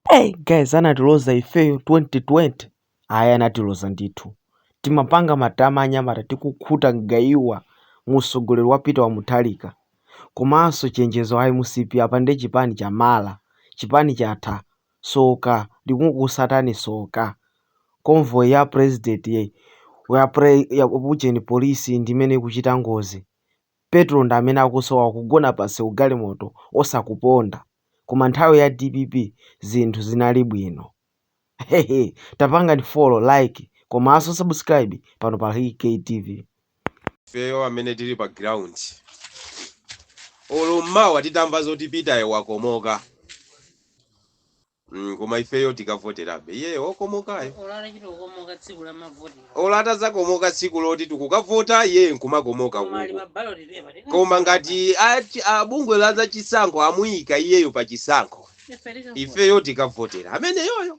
Hey guys anatiloza ifeyo 2020 ayi anatiloza ndithu timapanga matama anyamata tikukhuta mgaiwa musogoleri wa Peter wa Mutharika komanso chenjezo a MCP apa nde chipani cha mala chipani chatha soka likungokusatani soka convoy ya president ya pre, ya ujeni polisi ndimene ikuchita ngozi Petrol ndi amene akusowa kugona pansewu galimoto osakuponda koma nthawi ya dpp zinthu zinali bwino hehe tapangani follow like komaso subscribe pano pa Rick K TV. Ifeyo amene tili pa ground olo mmawa titamva zoti Peter yo wakomoka. mm koma ifeyo tikavoterabe iyeyo okomokayo. Olo atachita kukomoka tsiku la mavoti. Olo atazakomoka tsiku loti tikukavota iyeyo nkumakomoka uko. Koma ali pa ballot paper. Tikumufunsa. Koma ngati a bungwe la za chisankho amuika iyeyo pa chisankho. Ife tikavota. Ifeyo tikavotera ameneyoyo.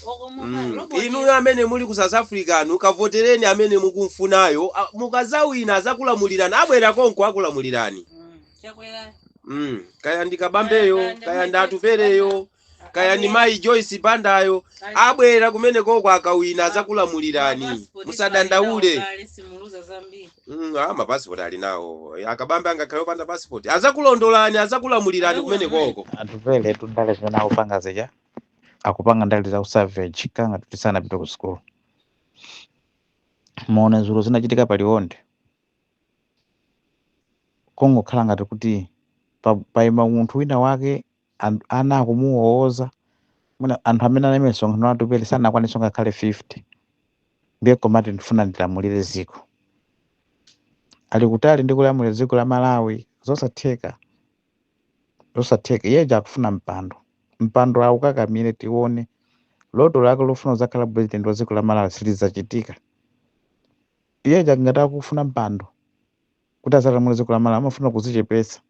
Okomokayo. Mm. Robot. Inuyo amene muli ku South Africa nu kavotereni amene mukumfunayo. A- Mukazawina azakulamulirani abwera konko akulamulirani. chakwera mm. kaya ndi kabambeyo Kaya- kaya kaya ndi ndi Mayi Atupeleyo Joyce Banda. kaya ndi mayi joyce bandayo Kaya- abwera kumenekoko akawina azakulamulirani Mapasipoti musadandaule ali nawo kale, simuluza zambiri Mm, ah, mapasipoti ali nawo akabambe angakhale opanda pasipoti azakulondolani azakulamulirani kumenekoko Atupeletu ndale zimene akupanga zija akupanga ndale za usavage kangati kuti sanapite ku sukulu muone dzulo zinachitika pa liwonde kungokhala ngati kuti pa- paima munthu wina wake an- ana akumuwowoza mwina anthu amene anali msonkhano Atupele sanakwanitse ngakhale 50 ndiye komati ndifuna ndilamulire dziko ali kutali ndi kulamulira dziko la malawi zosatheka zosatheka iyeja akufuna mpando mpando aukakamire tione loto lake lofuna kuzakhala president wa dziko la malawi silidzachitika Iye uja ngati akufuna mpando kuti azalamulire dziko la Malawi amafuna kuzichepetsa.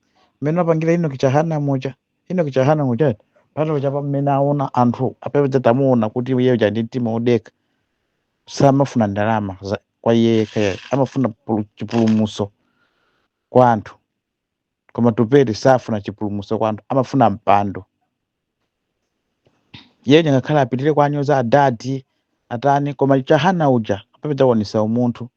Mmene apangira Enoch Chihana muja, Enoch Chihana muja eti, pano chapa mmene aona anthu apapa tamuona kuti iye uja ndi mtima wodekha samafuna ndalama za kwa iye yekha yekha amafuna pulu- chipulumutso kwa anthu. koma Atupele safuna chipulumutso kwa anthu amafuna mpando yeye ngakhale apitire kuwanyoza adadi atani koma Chihana uja apapatu aonesa umunthu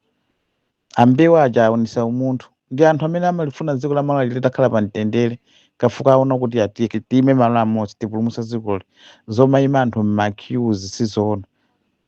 a Mbewe aja aonesa umunthu ndi anthu amene amalifuna dziko la malawi litakhala pa mtendere chifukwa aona kuti atike tiime malo amodzi tipulumutsa dzikoli zomaima anthu mma queues sizoona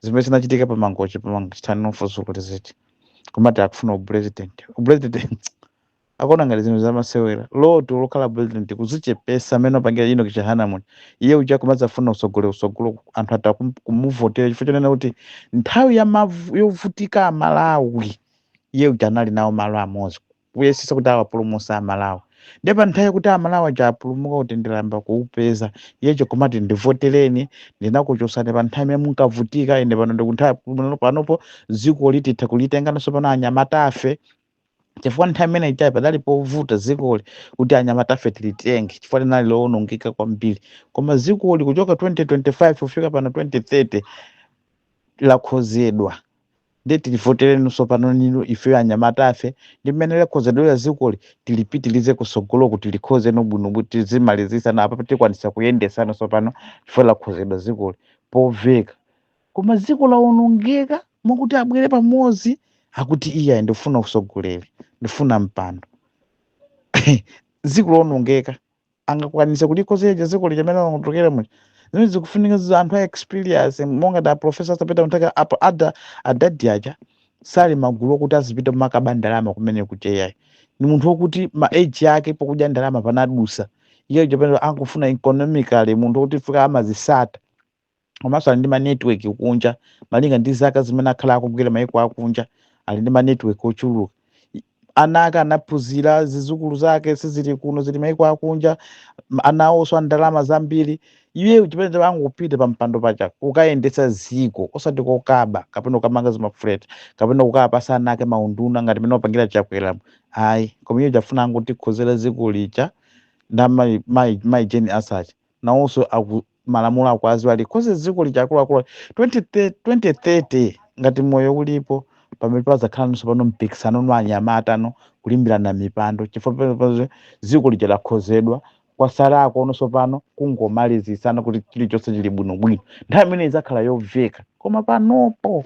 zimene zinachitika pa mangochi pa mangochi tani nofuso kuti ziti kumati akufuna upresident upresident akuona ngati zinthu zamasewera loto lokhala president kuzichepesa amene apangira Enock Chihana muno iye uja kumadzafuna usogole usogolo anthu atha kum- kumuvotera chifukwa chonena kuti nthawi ya mavu- yovutika amalawi iye uja anali nawo malo amodzi kuyesesa kuti awapulumuse amalawi nde pa nthawi kuti amalawi aja apulumuka kuti ndilamba kuupeza iye uja kumati ndivotereni ndinakuchosani pa nthawi imene munkavutika ine pano ndikunthawi pano- panopo dziko lija titha kulitengano sopano anyamatafe chifukwa nthawi imene ijayi padali povuta zikoli kuti anyamatafe tilitenge chifukwa linali lowonongeka kwambiri koma zikoli kuchoka 2025 kufika pano 2030 lakhozedwa ndiye tilivotereni sopano ninu ifeyo anyamatafe ndi mmene lakhozedwera zikoli tilipitilize kusogolo kuti likhoze no bwino bwino tizimalizisa na apa tikwanisa kuyendesano sopano chifukwa lakhozedwa zikoli poveka koma ziko lawonongeka mwakuti abwere pamodzi akuti iyayi ndifuna usogoleri ndifuna mpando ziko lawonongeka angakwanise kulikhoza lija ziko lija mene lawonongekera muja zimene zikufunika zizo anthu a experience monga ada professor Arthur Peter Mutharika apa ada adadi aja sali magulu okuti azipita kumakaba ndalama kumene kuja iyayi ni munthu wokuti ma age yake pokudya ndalama panadusa iye uja pano akufuna economically munthu wokuti fika amazisata komanso ali ndi ma network kunja malinga ndi zaka zimene akhala akugwira maiko akunja ali ndi ma network ochuluka I- ana ake anaphunzira zizukulu zake sizili kuno zili maiko akunja m- ana awonso a ndalama zambiri iye chimene chake angopita pa mpando paja kukayendetsa ziko osati kokaba kapena kukamanga zimafuleti kapena kukapasa ana ake maunduna ngati mene wapangira chakweramu ayi koma iye uja afuna angotikhozera ziko lija nda mai mai mai Jane Ansah nawonso aku- malamulo akuwaziwa alikhoze dziko lija akuluakulu 2030 2030 ngati moyo ulipo pamene pazakhala no sopano mpikisano no anyamata no kulimbirana mipando chifukwa pamene dziko lija lakhozedwa kwasalako no sopano kungomalizitsana kuti chilichonse chili bwinobwino nthawi imene idzakhala yomveka koma panopo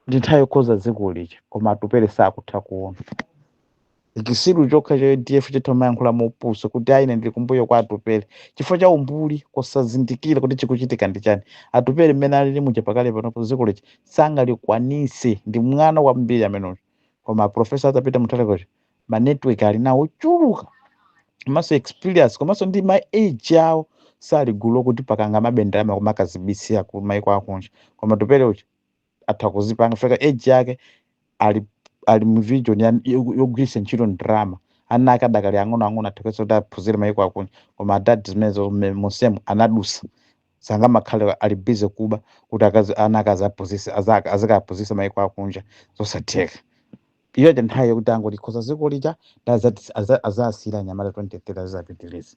ndi nthawi yokhoza dziko lija koma Atupele sakutha kuona Chisiru chokha cha UDF chitha kumayankhula mopusa kuti ayi ine ndili kumbuyo kwa Atupele chifukwa cha umbuli kusazindikira kuti chikuchitika ndi chani. Atupele mmene alili muja pakali panopo dziko lija sangalikwanitse ndi mwana kwambiri amene uja. Koma a Professor Arthur Peter Mutharika uja ma network ali nawo ochuluka komanso experience komanso ndi ma age awo sali gulu lokuti pakangamabe ndalama kumakazibisira ku maiko akunja. Koma Atupele uja atha kuzipanga fika age yake ali ali mu vision ya- yogu- yogwiritsa ntchito ndalama ana ake adakali ang'onoang'ono atheketse kuti aphunzire mayiko akunja koma adadi zimenezo mme- monsemo anadusa sangamakhale ali busy kuba kuti ana ake azikaphunzisa mayiko akunja zosatheka iyo cha nthawi yokuti angolikhoza ziko lija azasiyire anyamata 23 azizapitirize